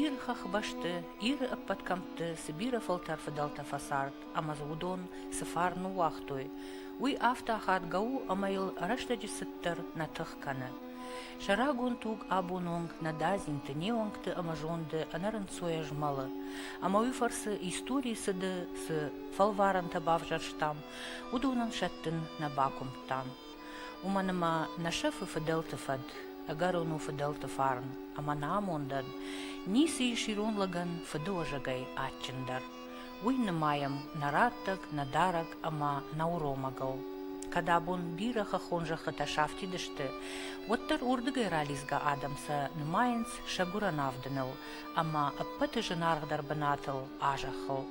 Иры хӕхбӕсты, Иры ӕппӕт кӕмтты цы бирӕ фӕлтӕр фыдӕлтӕ фӕцард ӕмӕ дзы уыдон цы фарн ныууагътой, уый афтӕ ахадгӕ у, ӕмӕ йыл рӕстӕджы цыддӕр нӕ тых кӕны. Сӕ рагон туг абон онг нӕ дадзинты, не уӕнгты ӕмӕ зонды ӕнӕрынцойӕ змӕлы. Ӕмӕ уый фӕрцы историйы цыды цы фӕлварӕнтӕ бавзӕрстам, уыдонӕн сӕттын нӕ бакуымдтам. Уымӕн ӕмӕ нӕ сӕфы фыдӕлты фӕд, ӕгӕрон у фыдӕлты фарн ӕмӕ нӕ амондӕн ницы ис ирон лӕгӕн фыдыуӕзӕгӕй адджындӕр. Уый нымайӕм нӕ раттӕг, нӕ дарӕг ӕмӕ нӕ уромӕгыл. Кӕд абон бирӕ хӕххон зӕххытӕ сафтид сты, уӕддӕр уырдыгӕй ралидзгӕ адӕм сӕ нымайынц сӕ гуырӕн авдыныл ӕмӕ ӕппӕты зынаргъдӕр бынатыл а зӕххыл.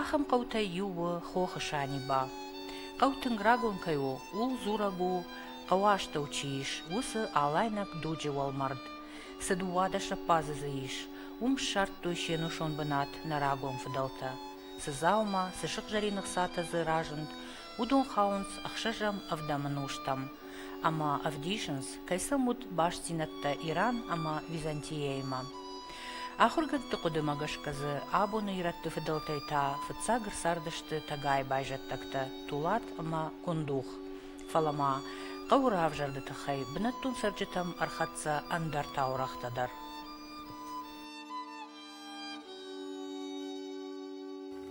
Ахӕм хъӕутӕй иу у хохы Саниба. Хъӕу тынг рагон кӕй у, ууыл дзурӕг у, хъӕуы астӕу чи ис, уыцы Алайнаг дуджы уӕлмӕрд. Цы дыууадӕс ӕппазы дзы ис, уым ссардтой се нусон бынат нӕ рагон фыдӕлтӕ. Цы дзаума, цы сыгъзӕрин ӕхцатӕ дзы разынд, уыдон хауынц ӕхсӕзӕм ӕвдӕмы нозтӕм, ӕмӕ ӕвдисынц, кӕй сӕм уыд бастдзинӕдтӕ Иран ӕмӕ Византияимӕ. Ахуыргӕндты хъуыдымӕ гӕсгӕ дзы абоны ирӕтты фыдӕлтӕй та фыццаг ӕрцардысты тӕгайы байзӕддӕгтӕ Тулат ӕмӕ Кундух, фӕлӕ ма хъӕуы равзӕрды тыххӕй бынӕттон цӕрджытӕм ӕрхӕццӕ ӕндӕр таурӕгътӕ дӕр.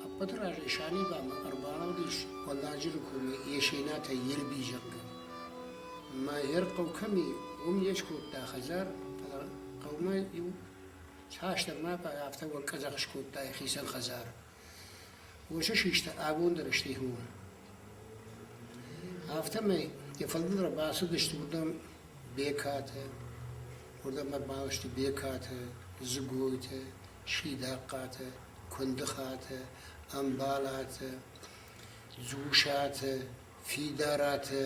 Ӕппӕты разӕй Санибамӕ ӕрбалӕудис Хъуаладжыры комы Есенатӕй Ерби, зӕгъгӕ. Ӕмӕ ӕрхъӕу кӕм и, уым йе скодта хӕдзар, фӕлӕ хъӕумӕ-иу цасдӕрмӕ афтӕ уӕнкъӕдзӕх скодта йӕхицӕн хӕдзар. Уыцы систа абондӕр стихмӕ. Афтӕмӕй йӕ фӕдыл ӕрбацыдысты уырдӕм Бекатӕ, уырдӕм ӕрбаласты Бекатӕ, Дзыгойты, Сидахъхъатӕ, Куындыхатӕ, Ӕмбалатӕ, Дзусатӕ, Фидаратӕ,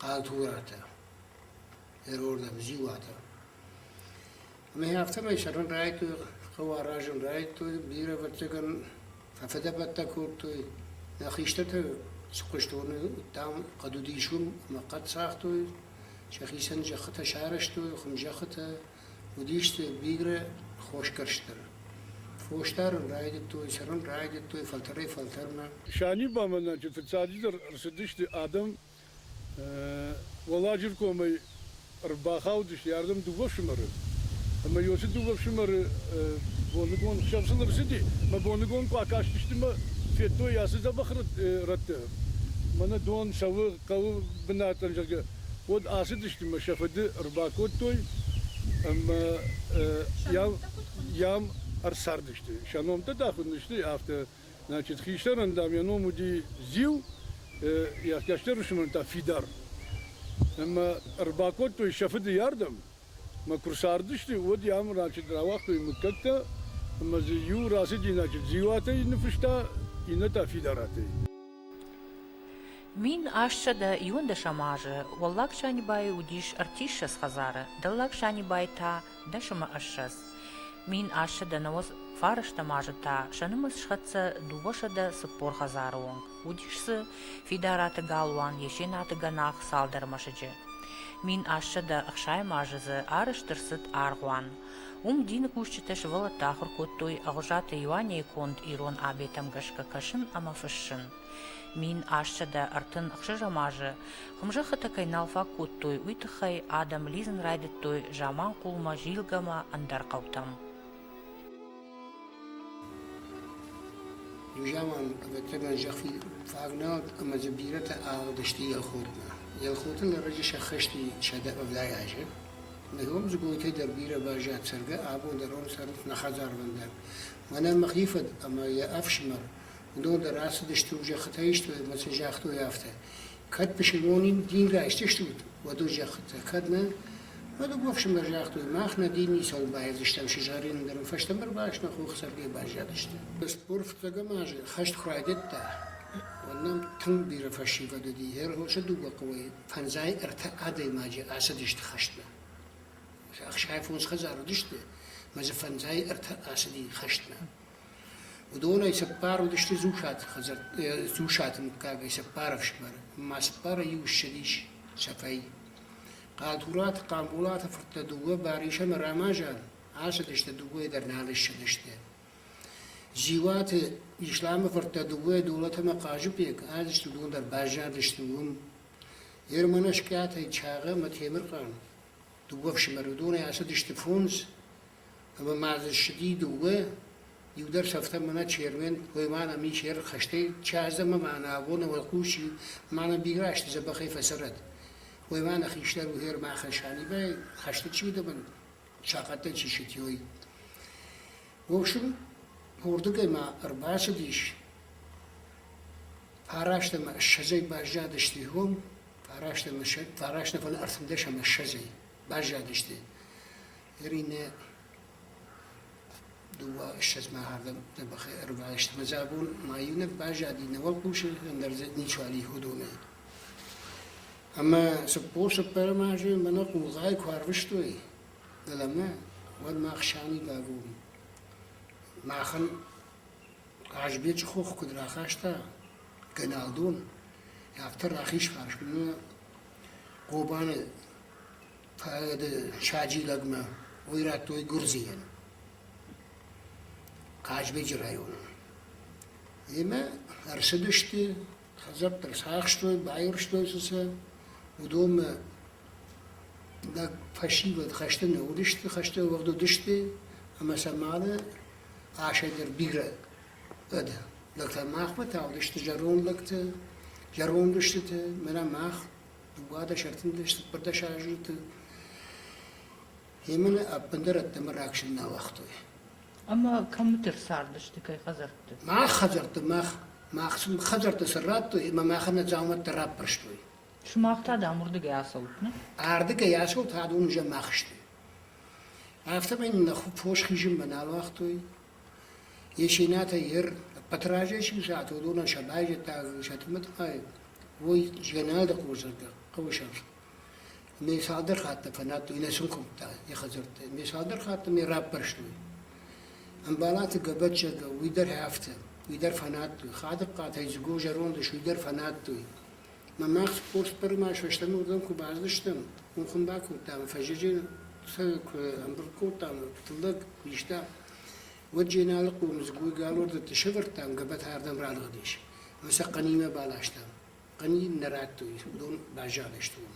Хъатуратӕ. Ӕргъордӕн ӕз иуатӕ. Ӕмӕ афтӕмӕй сӕрӕн райдтой, хъӕуы аразын райдтой, бирӕ ӕвӕццӕгӕн фӕфыдӕбӕттӕ кодтой. Нӕ хистӕртӕ цы хъуыстоны уыдтам, хъӕд уыдис уым, ӕмӕ хъӕд цагътой, сӕхицӕн зӕххытӕ сарӕзтой, хуымзӕххытӕ. Уыдисты бирӕ хосгӕрстдӕр. Фос дарын райдыдтой, цӕрын райдыдтой фӕлтӕрӕй-фӕлтӕрмӕ. Санибамӕнӕджы фыццаджыдӕр ӕрцыдысты адӕм Уӕлладжыры комӕй ӕрбахаудысты ардӕм дыууӕ фсымӕры. Ӕмӕ иу цы дыууӕ фсымӕры боныгон сӕм цы ныфсыди, мӕ боныгон куы акастысты мӕ федтой ацы дзӕбӕх рӕтты, мӕнӕ дон цӕуы хъӕуы бынатӕн, зӕгъгӕ, уӕд ацыдысты мӕ сӕ фыды ӕрбакодтой ӕмӕ йӕм ӕрцардысты. Сӕ номтӕ та хуыд не сты, афтӕ Значит, хистӕрӕн, дам, йӕ ном уыди Зил, йӕ кӕстӕр фсымӕрӕн та Фидар. Ӕмӕ ӕрбакодтой сӕ фыды ардӕм. Мӕ куы рцардысты, уӕд йӕм значит, рауагътой мыггӕгтӕ, ӕмӕ дзы иу рацыди, значит, Зилатӕй ныффыста, иннӕ та Фидаратӕй. Мин ӕстсӕдӕ иуӕндӕсӕм азы Уӕллаг Санибайы уыдис ӕртиссӕдз хӕдзары, Дӕллаг Санибай та Дӕсӕмӕ ссӕдз мин ассӕ дӕнӕоз фарӕстӕм азы та сӕ нымӕц схӕццӕ дыууӕсӕдӕ цыппор хӕдзары онг. Уыдис дзы Фидараты Галуан, Есенаты Гӕнах цалдӕр мӕсыджы. Мин ассӕдӕ ӕхсайӕм азы дзы арӕзт ӕрцыд аргъуан. Уым дины кусджытӕ сывӕллӕтты ахуыр кодтой Ӕгъуызаты Иуанейы конд ирон абетӕм гӕсгӕ кӕсын ӕмӕ фыссын. Мин ассӕдӕ ӕртын ӕхсӕзӕм азы хуымзӕххытӕ кӕй нал фаг кодтой, уый тыххӕй адӕм лидзын райдыдтой заманхъулмӕ, зилгӕмӕ, ӕндӕр хъӕутӕм. Иу заман, ӕвӕццӕгӕн, зӕххи фаг нӕ уыд ӕмӕ дзы бирӕтӕ аҕыдысты Елхотмӕ. Елхоты лӕрӕджы сӕххӕсти сӕдӕ ӕвдай азы. Ныгом Дзыгойты дӕр бирӕ баззад цӕргӕ, абон дӕр уым цӕрынц нӕ хӕдзарвӕндаг. Мӕнӕ мӕхи фыд ӕмӕ йӕ ӕфсымӕр уыдон дӕр ацыдысты у зӕххытӕ истой ӕмӕ сын загътой афтӕ, кӕд пысылмон дингӕ истыстут, уӕд у зӕххытӕ, кӕд нӕ, уӕд уыгу ӕфсымӕр загътой, мах нӕ дин ницӕуыл баедзыстӕм сызгъӕрин, ӕндӕр ын фӕстӕмӕ ӕрбаст нӕ хохы сӕргӕй баззадысты. Спорх фыццӕгӕм азы хӕст куы райдыдта, уӕд нӕм тынг бирӕ фӕсивӕд уыди. Ӕрвылсы дыууӕ хъӕуӕй фӕндзай ӕртӕ адӕймаджы ацыдысты хӕстмӕ. Ӕхсай фондз хӕдзар уыдысты, мӕ дзы фӕндзай ӕртӕ ацыди хӕстмӕ. Уыдонӕй цыппар уыдысты Дзусаты мыггагӕй цыппар ӕфсымӕры, ӕмӕ цыппарӕй иу ссыдис сӕфӕй. Хъӕдураты Хъамболаты фырттӕ дыууӕ Барис ӕмӕ Рамазан ацыдысты, дыууӕйӕ дӕр нал ссыдысты. Дзиуаты Исламы фырттӕ дыууӕ Долат ӕмӕ Хъазыбег ацыдысты, уыдон дӕр баззадысты уым. Ерманашкъиатӕй Чагъа ӕмӕ Темырхъан, дыууӕ ӕфсымӕры, уыдонӕй ацыдысты фондз, ӕма ма дзы ссыди дууӕ, иу дӕр сӕфтӕ мӕнӕ Чермен, гъоймаг ӕми Черхӕстӕй Чазӕмӕ мӕнӕ абоны уӕлхъуси мӕнӕ бирӕ азти дзӕбӕхӕй фӕцӕрӕд. Гъоймаг нӕ хистӕр угьер мӕ Хасани ба ӕй хӕсти чидӕрӕн сахъаттӕн чи ситиой. В общем, уордугӕй ма ӕрбацудис, фараст ӕма ссӕдзӕй базадӕсти гъом, фараст ӕма ссӕ- фараст нафӕлӕ ӕртиндӕс ӕма ссӕдзӕй. Баззадысты ныринӕ дыууӕ ссӕдзмӕ ардӕм нӕ бӕхӕй ӕрбайст. Ӕмӕ дзы абон ма иунӕг баззади, нӕ уӕлхъусы, ӕндӕр дзы ничуал и уыдонӕй. Ӕмӕ цыппор цыппӕрӕм азы мӕнӕ хъулгъайы куы арвыстой дӕлӕмӕ, уӕд мах Санибӕгон, махӕн Хъазбечы хох куыд рахаста Гӕналдон, афтӕ рахиз фарсмӕ Хъобаны Поэты саджилӕгмӕ уый радтой Гуырдзийӕн, Хъазбеджы районы. Имӕ ӕрцыдысты, хӕдзӕрттӕ сахстой, байуӕрстой цы сӕ, уыдонмӕ лӕг фӕсивӕд хӕсты нӕ уыдысты, хӕсты уӕгъд уыдысты, ӕмӕ сӕ мады асӕй дӕр бирӕ ӕд лӕгтӕ. Махмӕ та уыдысты зӕронд лӕгтӕ, зӕронд устытӕ, мӕнӕ мах Дыууадӕс ӕртындӕс цыппӕрдӕс азты Йемӕны ӕппындӕр ӕддӕмӕ раксын нӕ уагътой. Ӕмӕ кӕмдӕр цардысты кӕй хӕдзӕртты? Мах хӕдзӕртты, мах, мах сын хӕдзӕртты сын радтой ӕмӕ махӕн нӕ дзаумӕттӕ раппӕрстой. Сымах та дам уырдыгӕй асӕут, нӕ? Ардыгӕй асӕут, адон уызӕн мах сты. Афтӕмӕй нын нӕ фос хизынмӕ нал уагътой, Есенатӕй ер ӕппӕты разӕй чи ззад, уыдонӕн сӕ байзӕддаг Сатырмӕ тыххӕй уый Згӕнӕлды хорз зӕрдӕ хъӕуы сӕфт. Ме цалдӕр хатты фӕнадтой, нӕ сын куымдта йӕ хӕдзӕртты. Ме цалдӕр хатты мӕ раппӕрстой. Ӕмбалаты Гӕбӕтчызг уый дӕр афтӕ, уый дӕр фӕнадтой. Хадыхъхъатӕй Дзыго зӕронды, уый дӕр фӕнадтой. Мамӕ фосбӕры мӕ фӕстӕмӕ уырдӕм куы бацыдыстӕм, уым хуын бакодтам, фӕззӕджы сӕ куы ӕмбырд кодтам, тыллӕг куы иста, уӕд Дженалыхъо мызгойгалуырдыты сӕвӕрдтам, гӕбӕтӕрдӕм радгъуыдис ӕмӕ сӕ Хъанимӕ баластам. Хъани нӕ радтой, уыдон баззадысты уым.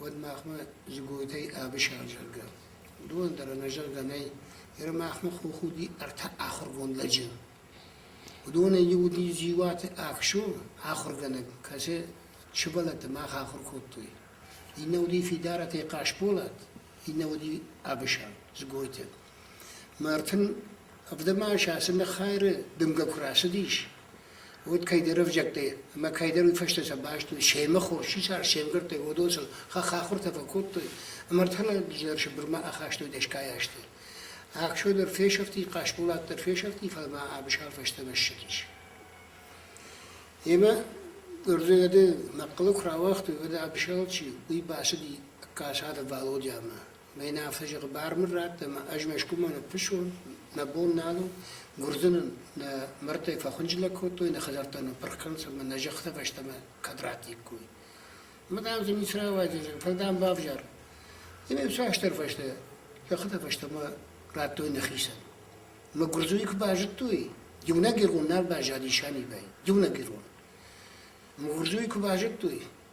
уӕд махмӕ Дзыгойтӕй ӕвысӕрзӕгъгӕ. уыдонӕн дӕр ӕнӕзӕгъгӕ нӕй, ныр махмӕ хох уыди ӕртӕ ахуыргонд лӕджы. уыдонӕй иу уыди Дзиуаты Ӕхсу, ахуыргӕнӕг, кӕцы сывӕллӕтты мах ахуыр кодтой. иннӕ уыди Фидаратӕй Хъасболат, иннӕ уыди Ӕвысӕр, Дзгойты. Мартын ӕвдӕмас ацы ныххайры дымгӕ куы рацыдис, уӕд кӕйдӕр ӕвзӕгтӕй ӕмӕ кӕйдӕр уый фӕстӕ сӕ баст уыд, семӕ хос чи цард, се мгӕрттӕй, уыдон сыл хахахуыртӕ фӕкодтой, ӕмӕ ӕртӕнӕг дӕр Сыбырмӕ ахастой дӕсгай азты. Ӕхсё дӕр фесӕфти, Хъасболат дӕр фесӕфти, фӕлӕ ма Абысар фӕстӕмӕ ссыдис. Йемӕ Ӕрдугады мӕхъхъылы куы рауагътой, уӕд Абысал чи у, уый бацыди Хъасаты Валодямӕ. Мӕнӕ фызыгъы бар мын радт ӕмӕ ӕз Мӕскуымӕ ныффыссон, мӕ бон нал у, Гуырдзы нын нӕ мӕрдтӕй фӕхуынджылӕг кодтой, нӕ хӕдзӕрттӕ ныппырх кӕнынц ӕмӕ нӕ зӕххытӕ фӕстӕмӕ кӕд ратиккой. Ӕмӕ дам дзы ницы рауайдзӕн, фӕлӕ дам бавзар. Ӕмӕ цасдӕр фӕстӕ зӕххытӕ фӕстӕмӕ радтой нӕхицӕн. Ӕмӕ гуырдзыйы куы базыдтой, иунӕг ирон нал баззади Санибӕй, иунӕг ирон. Ӕмӕ гуырдзыйы куы базыдтой,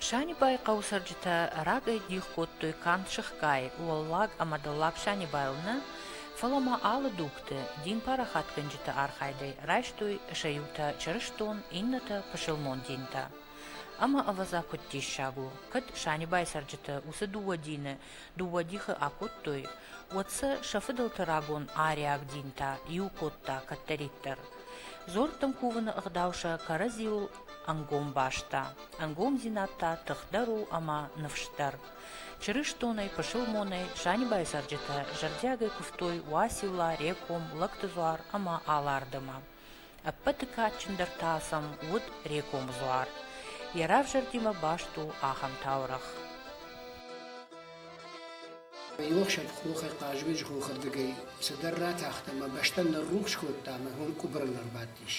Санибайы хъӕуы цӕрджытӕ рагӕй дих кодтой канд сыхгай, уӕллаг ӕмӕ дӕллаг Санибайыл нӕ, фӕлӕ ма алы дугты, дин парахатгӕнджыты архайдӕй райстой сӕ иутӕ чырыстон, иннӕтӕ пысылмон динтӕ. Ӕмӕ ӕвӕдза куыд диссаг у, кӕд Санибайы цӕрджыты уыцы дыууӕ дины Дыууӕ дихы акодтой, уӕд сӕ сӕ фыдӕлты рагон ариаг динтӕ иу кодта кӕддӕриддӕр. Дзорттын кувыны ӕгъдау сӕ кӕрӕдзиуыл ӕнгом баста. Ӕнгомдзинад та тыхдӕр у ӕмӕ ныфсдӕр. Чырыстонӕй, пысылмонӕй Санибайы цӕрджытӕ зӕрдиагӕй куывтой Уацилла, Реком, Лӕгтыдзуар ӕмӕ Алардымы. Ӕппӕты кадджындӕр та сӕм уыд Рекомы дзуар. Йӕ равзӕрдимӕ баст у ахӕм таурӕгъ. Иухсӕв хохӕй Хъазбеджы хохырдыгӕй цыдӕр ратахт ӕмӕ бӕстӕн ныррухс кодта ӕмӕ уым къуыбырыл ӕрбадтис.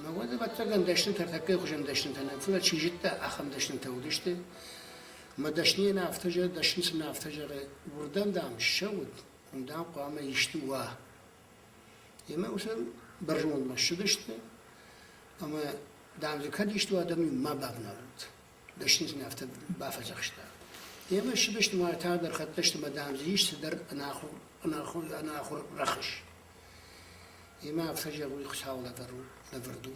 Мӕ уӕд, ӕвӕццӕгӕн, дӕснытӕ тӕккӕ хуызӕн дӕснытӕ нӕ, фӕлӕ чи зыдта, ахӕм дӕснытӕ уыдысты. Мӕ дӕсныйӕ нӕ афтӕ зӕгъы, дӕсны цы нӕ афтӕ зӕгъы, уырдӕм, дам, ссӕут, уым, дам, хъуамӕ исты уа. Йемӕ усӕн бӕрзондмӕ ссыдысты ӕмӕ, дам дзы кӕд исты у, адӕм-иу ма бавналӕнт. Дӕсны сын афтӕ бафӕдзӕхста. Йемӕ ссыдысты ӕмӕ тагъдӕр хӕццӕ сты ӕмӕ, дам дзы ис цыдӕр ӕнахуыр, ӕнахуыр, ӕнахуыр рӕхыс. Йемӕ афтӕ зӕгъуй, Хуыцау лӕвар у, лӕвӕрд у.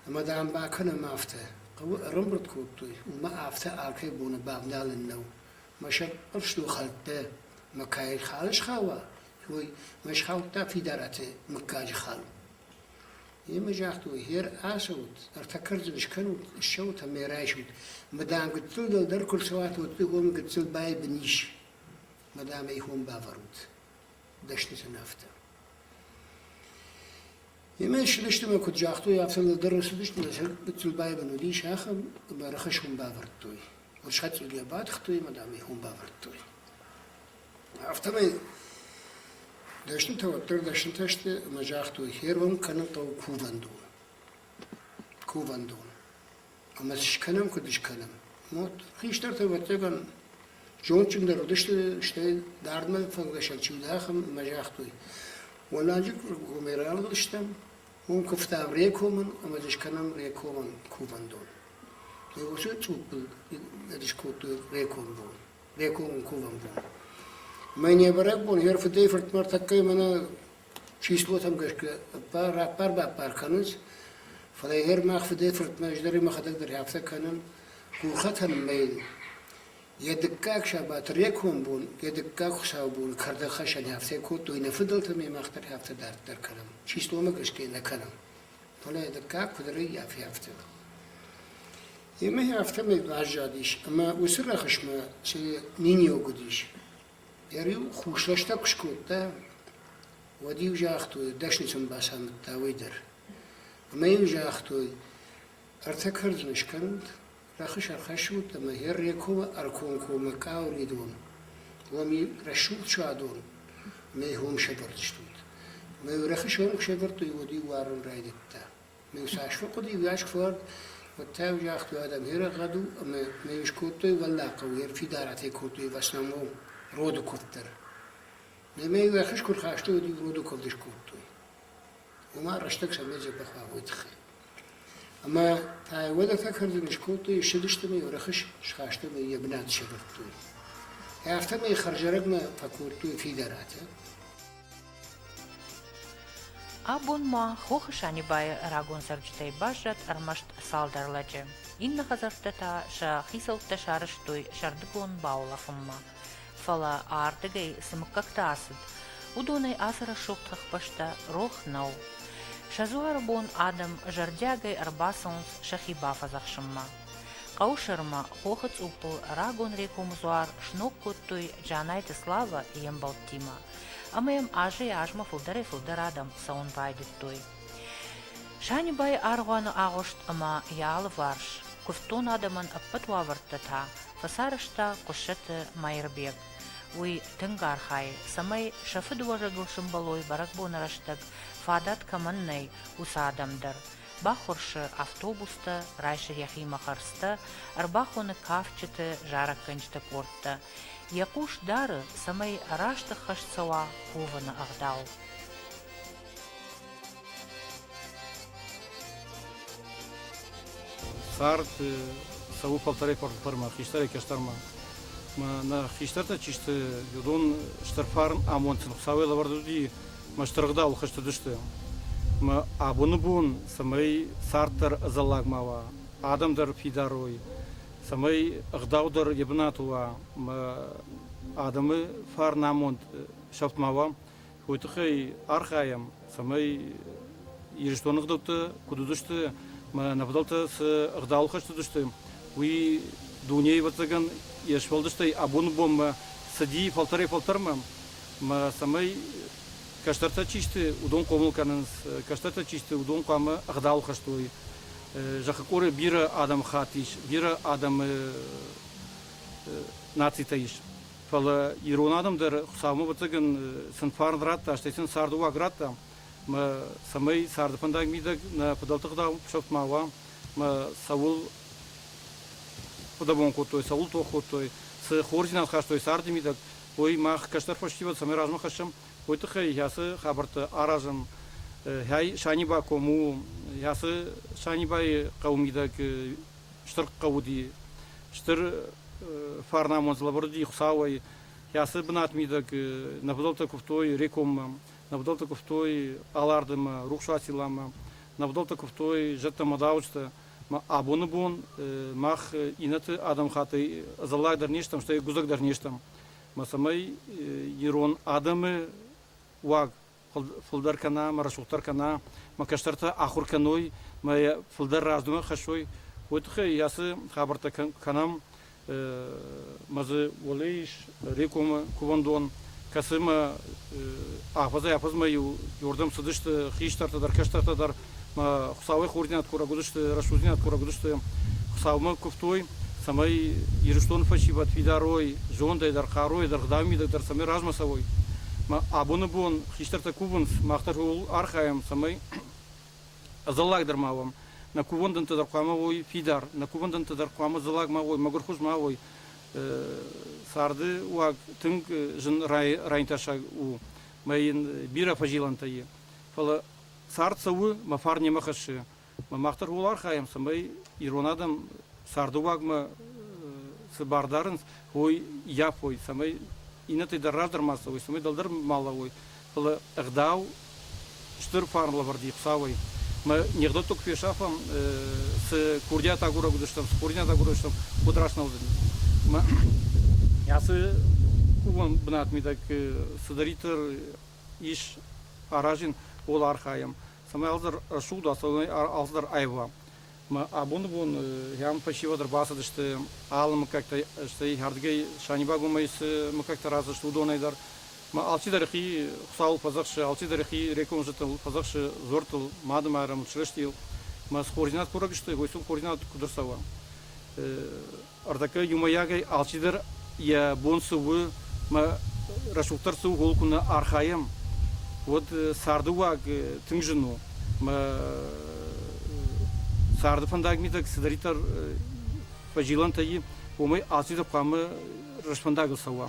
Ӕмӕ, дам, бакӕнӕм афтӕ. Хъӕуы ӕрӕмбырд кодтой, уымӕ афтӕ алкӕй боны бавналӕн нӕу, Мӕсӕг ӕфсдухӕлттӕ мӕ кӕй хал схауа, уой, мӕ схаудта Фидараты мыггаджы хал. Имӕ загътой, гъер ацӕут, ӕртӕ кӕрдзын скӕнут, ссӕут ӕмӕ райсут. Мадам гыццыл дӕлдӕр куы рцӕуат, уӕд дыгом гыццыл байбын ис. Мадам ӕй хом бавӕрут. Дӕсны сын афтӕ. Имӕ ссыдысты мӕ куыд загътой, афтӕ нӕдӕр ссыдысты, нӕ сӕ гыццыл байбын уыдис ахӕм, ӕмӕ ӕрхӕссон бавӕрдтой. Ӕрсӕцъигӕ батыхтой ӕмӕ, дам, ихон бавӕрдтой. Афтӕмӕй дӕснытӕ уӕддӕр дӕснытӕ сты ӕмӕ загътой: «Фервӕн кӕнын хъӕуы кувӕндоны». Кувӕндон. ӕмӕ скӕнӕм, куыд скӕнӕм. Мот. Хистӕртӕ, ӕвӕццӕгӕн, зондджындӕр уыдысты, стӕй дардмӕ фӕлгӕсӕн чи уыд, ахӕм ӕмӕ загътой, уӕлладжы комӕй рарвылстам, уым куывтам Рекомӕн ӕмӕ дзы скӕнӕм Рекомӕн кувӕндон. Уыцы цъуппыл скодтой Реком бон, Рекомон кувӕн бон. Мӕ не бӕрӕг бон, йӕ фыдӕй фыртмӕ тӕккӕ мӕнӕ числотӕм гӕсгӕ раппар-баппар кӕнынц, фӕлӕ гъер мах фыдӕй-фыртмӕ ӕз дӕр мӕхӕдӕг дӕр афтӕ кӕнын, хохӕтӕн мӕйын йӕ дыккаг сабаты реком бон, йӕ дыккаг хуыцаубоны кӕрдӕгхӕссӕн афтӕ кодтой, нӕ фыдӕлтӕ ме мах дӕр афтӕ дарддӕр кӕнӕм, числомӕ гӕсгӕ нӕ кӕнӕм. Фӕлӕ йӕ дыккаг куыд рӕййафы афтӕ. Емӕ афтӕмӕй баззадис, ӕмӕ уыцы рӕхысмӕ цы миниуӕг уыдис, Йӕ риу хурсрӕстӕг куы скодта, уӕд-иу загътой, дӕснысон бацамыдта уый дӕр. Ӕмӕ-иу загътой, ӕртӕ кӕрдзын скӕнут, рӕхыс ӕрхӕссут ӕмӕ Ӕррекомы ӕркомкоммӕ Къауыридон, уоми рӕсугъд садон, ӕмӕ ӕй хом сӕвӕрдзыстут. Ӕмӕ-иу рӕхыс ом куы сӕвӕрдтой, уӕд-иу уарын райдыдта. Цасфӕн хъуыди ивгӕс куывӕрд, уӕдта еу загътой адӕм, «Гъе рагъӕд у» ӕма нӕ искодтой Уӕллагхъӕу, гъе фидарӕтӕй кодтой Васнамон роды куывд дӕр. Нӕмӕ еу ӕххӕст куд хастой, уӕд-иу роды куывд искодтой. Уомӕ рӕстӕг Сӕмбедзе бахуӕуй туххӕй. Ӕма та уодӕгтӕ кӕрдзин искодтой, иссудистӕмӕ еу рӕхыс схаста ӕма е бунат сӕвӕрдтой. Афтӕмӕй хӕрзӕрӕгмӕ фӕккодтой фидарӕтӕ. Абон ма Хохы Санибайы рагон цӕрджытӕй баззад ӕрмӕст цалдӕр лӕджы. Иннӕ хӕдзӕрттӕ та сӕ хицӕуттӕ сарӕзтой сӕрдыгон бауылӕфынмӕ. Фӕлӕ ардыгӕй цы мыггӕгтӕ ацыд, уыдонӕй ацы рӕсугъд хӕхбӕстӕ рох нӕу. Сӕ дзуары бон адӕм зӕрдиагӕй ӕрбацӕуынц сӕхи бафӕдзӕхсынмӕ. Хъӕусырмӕ хохы цъуппыл рагон рекомдзуар сног кодтой Джанайты Слава йе мбӕлттимӕ. ӕмӕ йӕм азӕй-азмӕ фылдӕрӕй-фылдӕр адӕм цӕуын байдыдтой. Санибайы аргъуаны агъуыст ӕмӕ йӕ алыварс куывддон адӕмӕн ӕппӕт уавӕртӕ та фӕцарӕзта Хъуыссӕты Маирбег. Уый тынг архайы, цӕмӕй сӕ фыдыуӕзӕгыл сымбӕлой бӕрӕгбоны рӕстӕг фадат кӕмӕн нӕй, уыцы адӕм дӕр. Баххуырсы автобустӕ, райсы йӕхимӕ хӕрдзтӕ, ӕрбахоны кафджыты зарӕггӕнджыты къордтӕ. Йӕ хъус дары, цӕмӕй раст ӕххӕст цӕуа ковыны ӕгъдау. Цард цӕуы фӕлтӕрӕй фӕлтӕрмӕ, хистӕрӕй кӕстӕрмӕ. Мӕ хистӕртӕ чи сты, уыдон стыр фарн амондджын Хуыцауӕй лӕвӕрд уыди, мӕ стыргъдау хызтыдысты. Мӕ абоны бон, цӕмӕй цард дӕр ӕдзӕллаг ма уа, адӕм дӕр фидарой, цӕмӕй ӕгъдаудӕр йӕ бынаты уа ӕмӕ адӕмы фарнамонд сӕфт ма уа, уый тыххӕй архайӕм, цӕмӕй Ирыстоны ӕгъдӕуттӕ куыд уыдысты ӕмӕ нӕ фыдӕлтӕ цы ӕгъдауыл хӕст уыдысты, уый дунейы ӕвӕццӕгӕн йе сфӕлдыстӕй абоны бонмӕ цыди фӕлтӕрӕй-фӕлтӕрмӕ, ӕмӕ цӕмӕй кӕстӕртӕ чи сты, уыдон хъомыл кӕнынц, кӕстӕртӕ чи сты, уыдон хъуамӕ ӕгъдауыл хӕст уой. Зӕххы къоры бирӕ адӕмыхатт ис, бирӕ адӕмы нацитӕ ис. Фӕлӕ ирон адӕм дӕр Хуыцаумӕ ӕвӕццӕгӕн сын фӕрн радта, стӕй сын царды уаг радта. Мӕ цӕмӕй царды фӕндаг мидӕг нӕ фыдӕлты ӕгъдау сӕфт ма уа, мӕ цӕуыл фыдӕбон кодтой, цӕуыл тох кодтой, цы хорздзинад хастой царды мидӕг, уый мах кӕстӕр фӕсивӕд цӕмӕй размӕ хӕссӕм, уый тыххӕй йацы хабӕрттӕ аразын хӕй Саниба кому йацы Санибайы хъӕумидӕг стыр хъӕуди стыр фарнамон злаборди Хуцауӕй яцы бынатмидӕг нӕвдӕлтӕ куфтой рекоммӕ, нӕвдӕлтӕ куфтой Алардымӕ, Рухсуатиламӕ, нӕвдӕлтӕ куфтой зӕдтӕ-мадауджытӕ. Абоны бон мах иннӕты адӕмхаттӕй ӕдзӕллаг дӕр не стӕм, стӕй гуыдзӕг дӕр не стӕм. Мацӕмӕй ирон адӕмы уаг фулдӕр кӕна, ма рӕсугъддӕр кӕна, ма кӕстӕртӕ ахур кӕной, ма йӕ фулдӕр раздумӕ хӕссой, уой туххӕй ацы хабӕрттӕ кӕнӕм ма дзы уӕле ис Рекомы кувӕндон, кӕцымӕ афӕдзӕй-афӕдзмӕ-иу уордӕм цыдысты хистӕртӕ дӕр, кӕстӕртӕ дӕр Хуыцауӕй хордзинад курӕг уыдысты, рӕсугъддзинад курӕг уыдысты, Хуыцаумӕ куывтой, цӕмӕй Ирыстоны фӕсивӕд фидарой, зондӕй дӕр, хъаруйӕ дӕр, гъдауы мидӕг дӕр цӕмӕй размӕ цӕуой. Абоны бон хистӕртӕ кувынц, мах дӕр ууыл архайӕм, цӕмӕй ӕдзӕллагдӕр ма уӕм. Нӕ кувӕндӕнтӕ дӕр хъуамӕ уой фидар, нӕ кувӕндӕнтӕ дӕр хъуамӕ дзыллаг ма уой, мӕгуырхуыз ма уой. Царды уаг тынг зын райнтӕсаг у мӕ йын бирӕ фӕзилӕнтӕ и. Фӕлӕ Цард цӕуы, мӕ фарн немӕ хӕссы. Мах дӕр ууыл архайӕм, цӕмӕй ирон адӕм царды уагмӕ цы бар дарынц, уой йафой, цӕмӕй иннӕтӕй дӕр раздӕр ма цӕуой, цӕмӕй дӕлдӕр ма лӕууой. Фӕлӕ ӕгъдау стыр фарнлӕвӕрд и Хуцауӕй. Мӕ нигъдӕттӕ куы фесафӕм, цы курдиат агурӕг уыдыстӕм, цы хурдиат агурӕг уыдыстӕм, уыд раст нӕ уыдзӕни. Ацы кувӕн бынат мидӕг цыдӕриддӕр ис аразын пол архайӕм, цӕмӕй алцыдӕр рӕсугъд, алцыдӕр алцыдӕр аива. Абоны бон йӕм фӕсивӕд ӕрбацыдысты алы мыггӕгтӕ, стӕй ардыгӕй Санибагомӕй цы мыггӕгтӕ раздзысты, уыдонӕй дӕр. Алчидӕр хи Хуыцауыл фӕдзӕхсы, алчидӕр хи рекомзӕдтыл фӕдзӕхсы, дзуӕрттыл, Мадымайрӕм, Чырыстийыл. Мӕ цы координат курӕг сты, уый сыл координат куыд ӕрцӕуа? Ӕртӕккӕ иумӕйагӕй алчидӕр йӕ бон цы у, мӕ рӕсугъддӕр цы у, ууыл куы нӕ архайӕм, уӕд царды уаг тынг зын у. Мӕ царды фӕндаг мидӕг цыдӕриддӕр фӕзилӕнтӕ и, уымӕй алчидӕр хъуамӕ рӕстфӕндагыл цӕуа.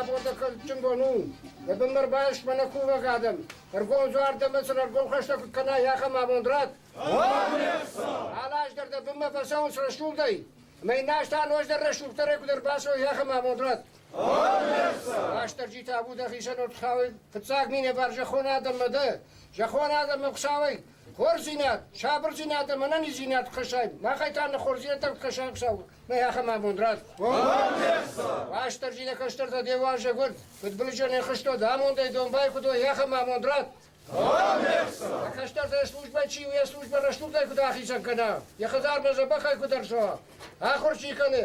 рабондӕгӕнджын бон у. Йӕ бын дӕр байс мӕнӕ кувӕг адӕм. Ӕргом дзуар дӕмӕ сын ӕргом хӕстӕ куыд кӕна, ахӕм амонд рат. Алаздӕр дӕ бынмӕ фӕцӕуынц рӕсугъдӕй. Ӕмӕ иннӕ аз та ноджыдӕр рӕсугъддӕрӕй куыд ӕрбацӕуой, ахӕм амонд рат. Рӕстӕрджи табу дӕ хицӕн Удхауи, фиццаг минӕвар зӕххон адӕммӕ дӕ. Зӕххон адӕммӕ Хуцауӕй хорздзинад, сабурдзинад ӕма ӕнӕниздзинад кӕсай. Махӕй та нӕ хорздзинӕдтӕ кӕсай Хуцау. Нӕ ахӕм абон рад. Рӕстӕрджи нӕ кӕстӕртӕ де уарзӕг уӕд, фыдбылызӕнӕй хызтод, амондӕй домбай куд уой, ахӕм амонд рад. Нӕ кӕстӕртӕ службӕ чи у, йӕ службӕ рӕстугӕй куыд ахицӕн кӕна, йӕ хӕдзармӕ дзӕбӕхӕй куыд ӕрцӕуа, ахуыр чи кӕны,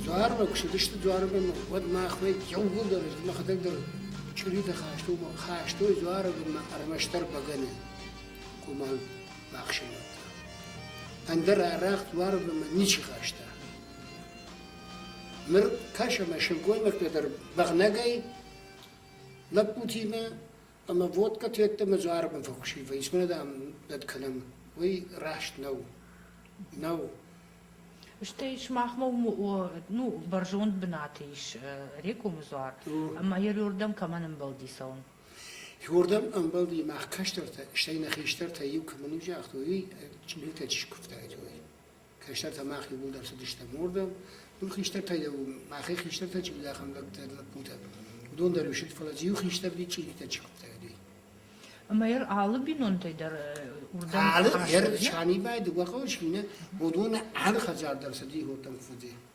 Дзуармӕ куы цыдысты Дзуармӕ, уӕд махмӕ иууылдӕр мӕхӕдӕг дӕр чъиритӕ хастой, хастой Дзуармӕ ӕрмӕстдӕр бӕгӕны къуымӕл бахсӕвӕдта. Ӕндӕр арӕх Дзуармӕ ничи хаста. Ныр кӕсӕм сылгоймӕгтӕ дӕр бӕгънӕгӕй лӕппутимӕ Ӕмӕ водкӕты йеддӕмӕ дзы арвын фӕхуысивай, исмӕ, дам, дӕт кӕнӕм, уый раст нӕу. Нӕу. Стӕй сымахмӕ ну, бӕрзонд бынаты ис рекомы дзуар, ӕмӕ йӕ рдӕм кӕмӕн ӕмбӕлди цӕуын? Рдӕм ӕмбӕлди, мах кӕстӕртӕ, стӕй нӕ хистӕртӕ иу кӕмӕн уый загътой, уый биртӕ чи скуывтаид, уый. Кӕстӕртӕ мах иууылдӕр цыдыстӕм уырдӕм. Нур хистӕртӕ еу, мӕхе хистӕртӕ чи уыд, ахӕм лӕгтӕ, лӕппутӕ. Уыдон дӕр исыд, фӕлӕ иу хистӕрди чъиритӕ чыгъдта уыди. Ӕмӕ ӕр алы бинонтӕй дӕр уырдӕм Алы ӕр хӕстӕг, ӕр Санибай, дыууӕ хъӕуы чи нӕ, уыдоны алы хӕдзар дӕр цыди иротӕм фудзи.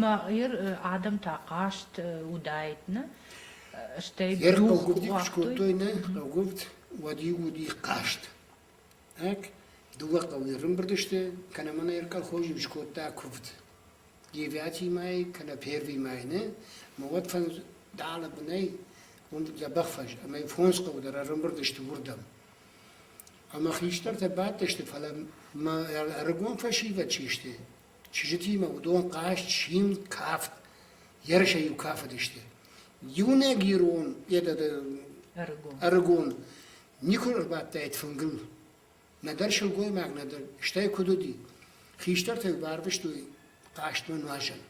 Мӕ Ир адӕм та хъазт уыдаид, нӕ? Стӕй Ер хъуггуывд куы кодтой, нӕ хъуггуывд, уӕд-иу уыди хъазт. Так, дыууӕ хъӕуы ӕрымбырд сты, кӕнӕ ма нӕ Ер колхоз-иу скодта куывд. Девятый май, кӕнӕ Первый май, нӕ? Ӕмӕ уӕд фӕндалы бынӕй уым дзӕбӕх фӕз ӕмӕ фондз хъӕуы дӕр ӕрымбырд сты уырдӕм. Ӕмӕ хистӕртӕ бадтысты, фӕлӕ мӕ ӕрыгон фӕсивӕд чи сты, чызджытимӕ уыдон хъазт, симд, кафт, ерысӕй-иу кафыдысты. Иунӕг ирон, ӕрыгон. ӕрыгон никуы ӕрбадтаид фынгыл. Нӕдӕр сылгоймаг, нӕдӕр, стӕй куыд уыди, хистӕртӕ-иу барвыстой хъазтмӕ нуазӕн.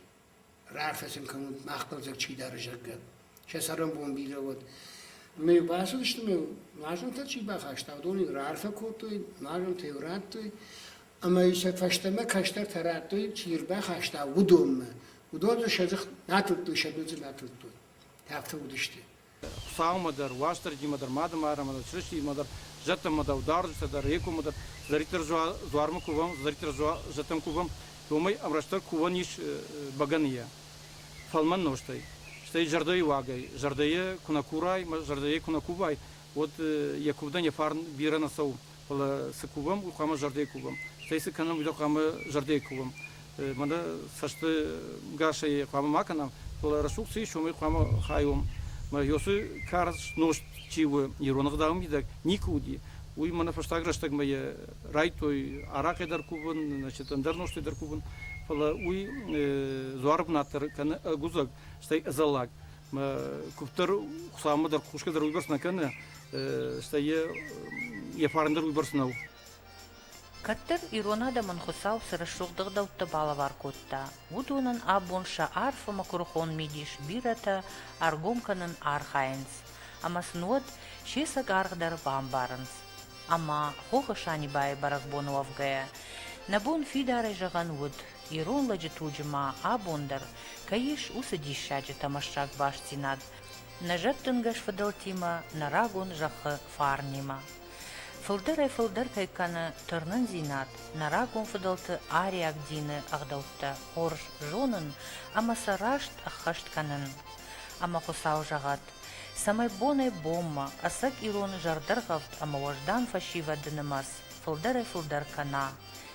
Рахӕцын кӕнут, мах хъӕлдзӕг чи дары, зӕгъгӕ. Сӕ цӕрӕнбон бирӕ уӕд. Ӕмӕ йыл бацыдысты ӕмӕ нуазӕнтӕ чи бахаста, уыдон йын раарфӕ кодтой, нуазӕнтӕ йыл радтой, ӕмӕ сӕ фӕстӕмӕ кӕстӕртӕ радтой, чи ӕрбахаста, уыдонмӕ. Уыдон сӕ дзых натылдтой, сӕ дудзы натылдтой. Афтӕ уыдысты. Хуыцаумӕ дӕр, Уастырджимӕ дӕр, Мадымарӕмӕ дӕр, Чырыстиймӕ дӕр, зӕдтӕмӕ дӕр, ударджытӕ дӕр, Екомӕ дӕр, цыдӕриддӕр дзуармӕ кувӕм, цыдӕриддӕр зӕдтӕм кувӕм, уымӕй ӕмрӕстдӕр кувӕн ис бӕгӕныйӕ, фӕлмӕн нозтӕй. Стӕй зӕрдӕйы уагӕй, зӕрдӕйӕ куы нӕ курай, зӕрдӕйӕ куы нӕ кувай, уӕд йӕ куывдӕн йӕ фарн бирӕ нӕ цӕуы. Фӕлӕ цы кувӕм, уый хъуамӕ зӕрдӕйы кувӕм. Стӕй цы кӕнӕм, уый дӕр хъуамӕ зӕрдӕйы кувӕм. Мӕнӕ цӕстынгасӕй хъуамӕ ма кӕнӕм, фӕлӕ рӕсугъд цы ис, уымӕй хъуамӕ хайом. Мӕ ёсы карз нозт чи у, ирон ӕгъдауы мидӕг никуы уыди, уый мӕнӕ фӕстаг рӕстӕгмӕ йӕ райдтой арахъӕй дӕр кувын, значит, ӕндӕр нозтӕй дӕр кувын, фӕлӕ уый дзуары бынат дӕр кӕны ӕгуыдзӕг, стӕй ӕдзӕллаг. Мӕ куывд дӕр Хуыцаумӕ дӕр хъусгӕ дӕр уыйбӕрц нӕ кӕны, стӕй йӕ фарн дӕр уыйбӕрц нӕу. Кӕддӕр ирон адӕмӕн Хуыцау цы рӕсугъд ӕгъдӕуттӕ балӕвар кодта, уыдонӕн абон сӕ арфӕмӕ куырыхон мидис бирӕтӕ ӕргом кӕнын архайынц ӕмӕ сын уӕд се цӕг аргъ дӕр бамбарынц. Ӕмӕ, хохы Санибайы бӕрӕгбоны уӕвгӕйӕ, нӕ бон фидарӕй зӕгъӕн уыд, ирон лӕджы туджы ма абон дӕр кӕй ис уыцы диссаджы тӕмӕссаг бастдзинад, нӕ зӕддынгӕс фыдӕлтимӕ, нӕ рагон зӕххы фарнимӕ. Фылдӕрӕй-фылдӕртӕй кӕны тырнындзинад нӕ рагон фыдӕлты ариаг дины ӕгъдӕуттӕ хорз зонын ӕмӕ сӕ раст ӕххӕст кӕнын. Ӕмӕ Хуыцау зӕгъӕд, цӕмӕй бонӕй-бонмӕ ӕцӕг ирон зӕрдӕргъӕвд ӕмӕ уӕздан фӕсивӕды нымӕц фылдӕрӕй-фылдӕр кӕна,